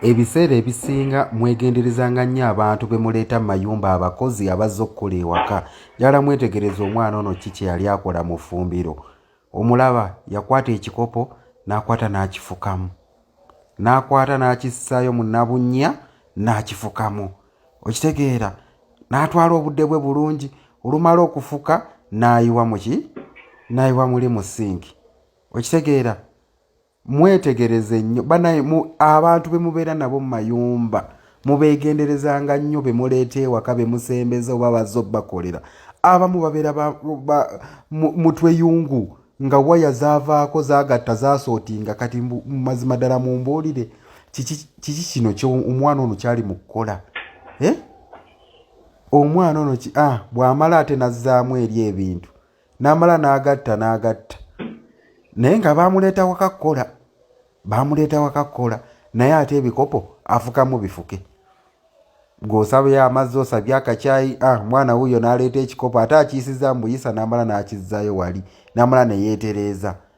Ebiseera ebisinga mwegenderezanga nnyo abantu be muleeta mu mayumba abakozi abazze okukola ewaka. Njagala mwetegereze omwana ono ki kye yali akola mu ffumbiro. Omulaba yakwata ekikopo n'akwata n'akifukamu, n'akwata n'akissaayo mu nabunnya n'akifukamu, okitegeera, n'atwala obudde bwe bulungi, olumala okufuka n'ayiwa mu ki n'ayiwa muli mu sinki, okitegeera. mwetegereze nnyo banaye abantu bemubeera nabo mu mayumba mubeegenderezanga nnyo be muleeta ewaka be musembeza oba bazze obakolera abamu babeera mutweyungu nga waya zavaako zagatta zasootinga kati mumazima ddala mumbuulire kiki kino omwana ono kyali mu kukola eh? omwana ono ah, bw'amala ate nazzaamu eri ebintu n'amala n'agatta n'agatta naye nga baamuleeta waka kukola baamuleeta waka kukola naye ate ebikopo afukamu bifuke gweosabayo amazzi osabye akakyayi ah, mwana wuyo n'aleeta ekikopo ate akiyisiza mbuyisa n'amala n'akizzayo wali n'amala ne yeetereeza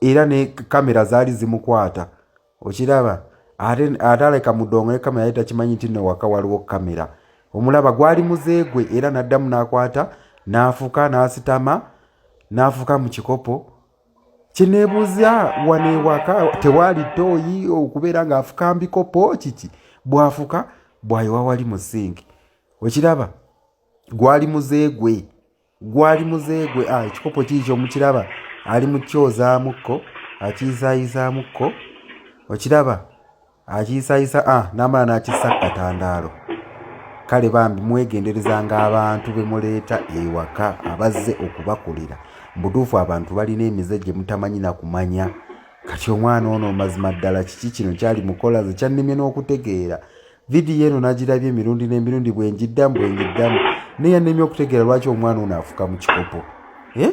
era ne kamera zaali zimukwata okiraba ate ate aleka mudongo ne kamera yali takimanyi nti no waka waliwo kamera omulaba gwali muze gwe era n'addamu n'akwata n'afuka n'asitama n'afuka mu kikopo kineebuuza wano ewaka tewaali ttooyi okubeera ng'afuka mbikopo kiki bw'afuka bwayiwa wali mu sinki okiraba gwali muze gwe gwali muze gwe ah, ekikopo kiikyo mukiraba ali mukyozaamukko akiyisayizaamukko okiraba akiyisayisa ah, namala nakissa katandaalo kale bambi mwegenderezanga abantu bemuleeta ewaka abazze okubakolera mubutuufu abantu balina emize gye mutamanyi nakumanya kati omwana ono mazima ddala kiki kino kyali mukolaze kyannemye n'okutegeera vidiyo eno nagirabye emirundi n'emirundi bwengiddamu bwengiddamu naye yanemye okutegeera lwaki omwana ono afuka mu kikopo eh?